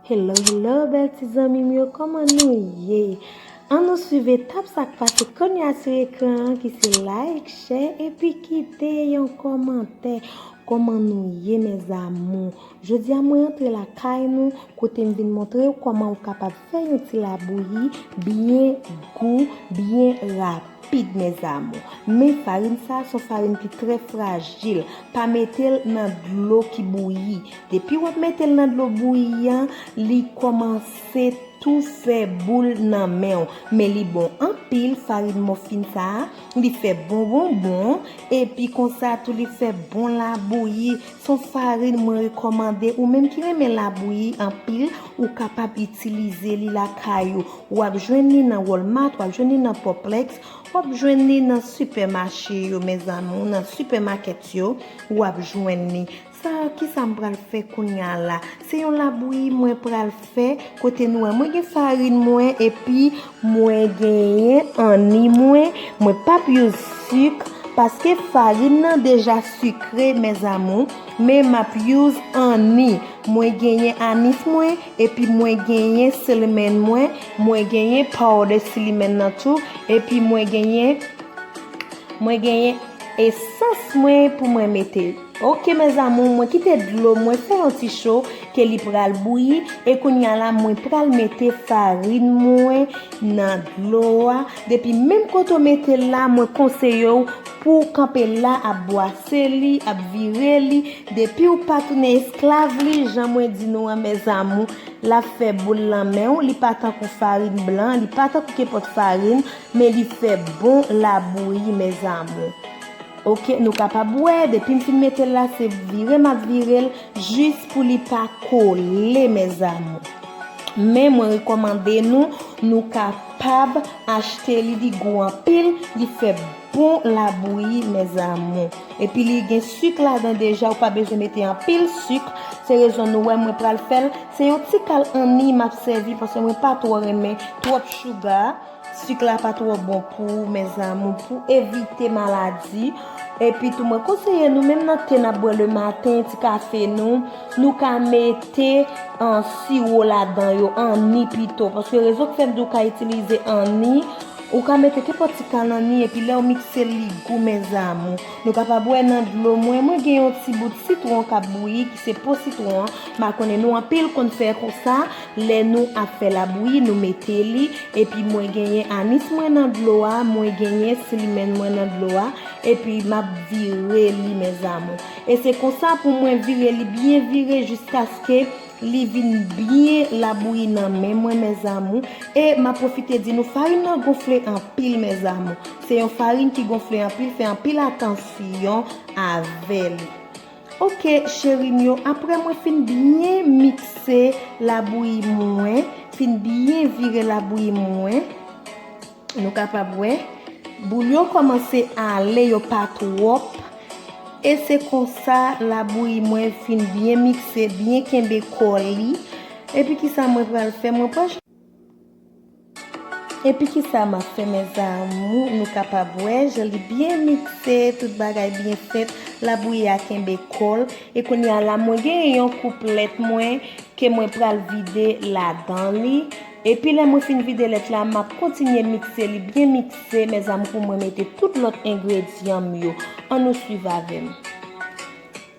Hello hello bèl ti zanmim yo kòman nou ye An nou swiv etap sak pase konya sou ekran an ki se like, share epi kite yon kòmantè Kòman nou ye mes amours Jodi a mwen antre lakay nou kote m vin montre w kòman ou kapab fè yon ti labouyi byen gou, byen rapid mes amour. Men farin sa a son farin ki trè frajil, pa mete l nan dlo ki bouyi. Depi wap mete l nan dlo bouyi an li kòmanse tou fè boul nan men w. Men li bon anpil farin mòfin sa a, li fè bon bonbon epi konsa tou li fè bon labouyi. Son farin mwen rekòmande ou menm ki renmen labouyi anpil ou kapab itilize li lakay ou. Wap jwenn li nan Walmart, wap jwenn li nan Poplex, wap jwenn li nan sipèmache yo mes amours, nan sipèmakèt yo wap jwenn li. Sa kisa m pral fè kounya la? Se yon labouyi mwen pral. fè kote nou wè mwen gen farine mwen epi mwen genyen anni mwen mwen pap use sucre paske farine nan deja sucre mes amour men map use anni mwen genyen anis mwen epi mwen genyen cinnamon mwen mwen genyen powder cinnamon nan tou epi mwen genyen mwen genyen essence mwen pou mwen mete. Ok mes amour mwen kite dlo mwen fè yon ti cho ke li pral bouyi e kounya la mwen pral mete farine mwen nan dlo a depi menm kote ou mete l la mwen konseye w pou w kanpe la ap bwase li ap vire li depi w pa tounen esklav li jan mwen di nou an mes amour lap fè boul lan men w li pa tankou farine blan li pa tankou kepòt farine men li fè bon la bouyi mes amour. Ok nou kapab wè depim fin metel la se vire map virel jis pou li pa kole mes amour men mwen rekomande nou nou kapab achte li li gou anpil li fè bon labouyi mes amour epi li gen suk ladan deja ou pa bezwen mete anpil suk se rezon nou wè mwen pral fèl se yon tikal anni map sèvi paske mwen pa tro renmen trop chouga. Sik la pa twò bon pou ou mes amour pou evite maladi epi tou mwen konseye nou menm nan te nap bwè le maten ti kafe nou nou ka mete siwo ladan yo anni pito paske rezon ki fè m di ou ka itilize anni ou ka mete kenpòt ti kal anni epi lèw mikse li gou mes amour nou ka pa bwè nan dlo mwen mwen gen yon ti bout sitwon kap bouyi ki se po sitwon an ma konnen nou anpil konn fè konsa. Lè nou ap fè labouyi nou mete li epi mwen genyen anis mwen nan dlo a mwen genyen slimen mwen nan dlo a epi map vire li mes amour e se konsa pou mwen vire li byen vire jiskaske li vin byen labouyi nan men mwen mes amour e map profite di nou farin nan gonfle anpil mes amour se yon farin ki gonfle anpil fè anpil atansyon avè li. Ok cheri m yo aprè mwen fin byen mikse labouyi mwen fin byen vire labouyi mwen nou kapab wè boul yo kòmanse ale yo pa twòp e se konsa labouyi mwen fin byen mikse byen kenbe kò li epi kisa mwen pral fè mwen pral Epi kisa map fè mes amour nou kapab wè jan li byen mikse tout bagay byen fèt labouyi a kenbe kòl e kounya la mwen gen yon kouplet mwen ke mwen pral vide ladan li epi lè mwen fin vide lèt la map kontinye mikse li byen mikse mes amour pou mwen mete tout lòt engredyan m yo an nou swiv avèm.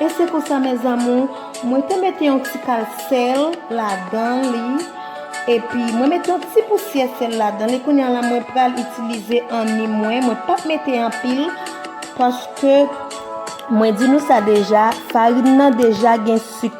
E se konsa mes amours mwen te mete yon ti kal sèl ladan li epi mwen mete yon ti pousyè sèl ladan li kounya la mwen pral itilize anni mwen mwen pap mete anpil paske mwen di nou sa deja farine nan deja gen sik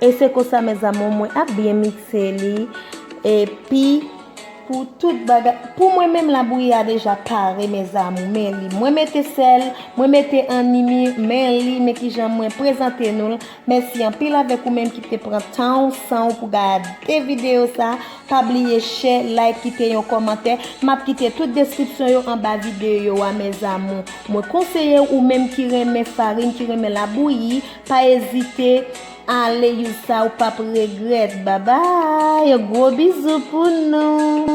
E se konsa mes amours mwen ap byen mixe li epi pou tout bagay pou mwen menm labouyi a deja pare mes amours men li mwen mete sèl mwen mete animi men li men kijan mwen prezante nou l. Mèsi anpil avèk ou menm ki te pran tan ou, san ou pou gade videyo sa, pa bliye chè, like, kite yon kòmantè, map kite tout deskripsyon yo anba videyo a mes amours. Mwen konseye ou menm ki renmen farine, ki renmen labouyi, pa ezite ale use sa ou pap regrèt. Babay! Gwo bizou pou nou!